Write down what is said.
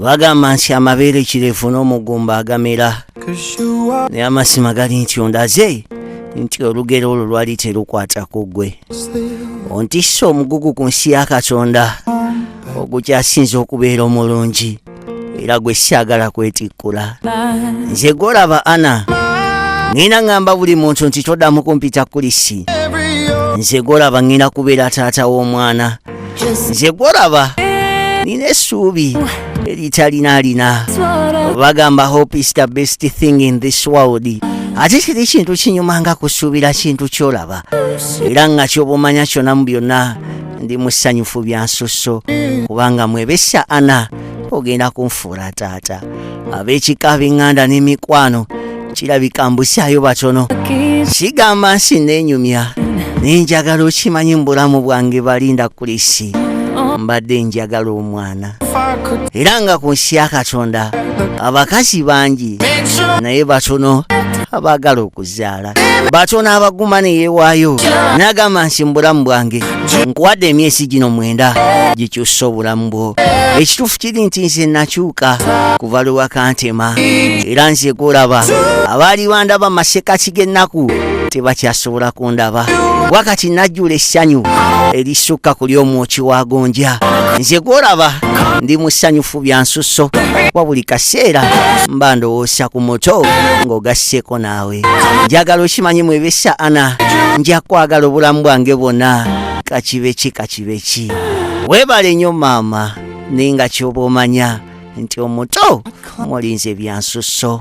bagamba nti amabeere kirefu n'omugumba agamera naye amasima gali nti ondaze nti olugero olwo lwali terukwata ku ggwe ontisse omugugu ku nsi ya katonda ogukyasinza okubeera omulungi era gwe siagala kwetikkula nze gwolaba ana ŋina ŋamba buli muntu nti toddamu kumpita kulisi nze gwolaba ŋina kubeera taata w'omwana nze gwolaba nina essuubi eritalinalina bagamba hope is the best thing in this world ate kiri kintu kinyuma nga kusuubira kintu kyolaba era nga kyobumanya kyona mu byonna ndi musanyufu bya nsusso kubanga mwebesa ana ogenda kunfuula taata ab'ekika b'eŋŋanda n'emikwano kirabika mbusaayo batono kigamba nsi neenyumya naye njagala okimanyi mu bulamu bwange balinda kulisi mbadde njagala omwana era nga ku nsi ya katonda abakazi bangi naye batono abaagala okuzaala batyo n'abaguma ne yeewaayo n'agamba nti mu bulamu bwange nkuwadde emyezi gino mwenda gikyusa obulamu bwo ekituufu kiri nti nze nakyuka kuva lwe wakantema era nze kulaba abaali bandaba masekaki g'ennaku tebakyasobola kundaba wakati najjula essanyu erisukka ku ly'omwoki wa gonja nze gwolaba ndi mu ssanyufu bya nsusso wa buli kaseera mba ndowoosa ku muto ng'ogasseeko naawe njagala okimanyi mwebesa ana nja kwagala obulamu bwange bwona kakibeki kakibeki webale nyo maama naye nga kyoba omanya nti omuto mulinze ebyansuso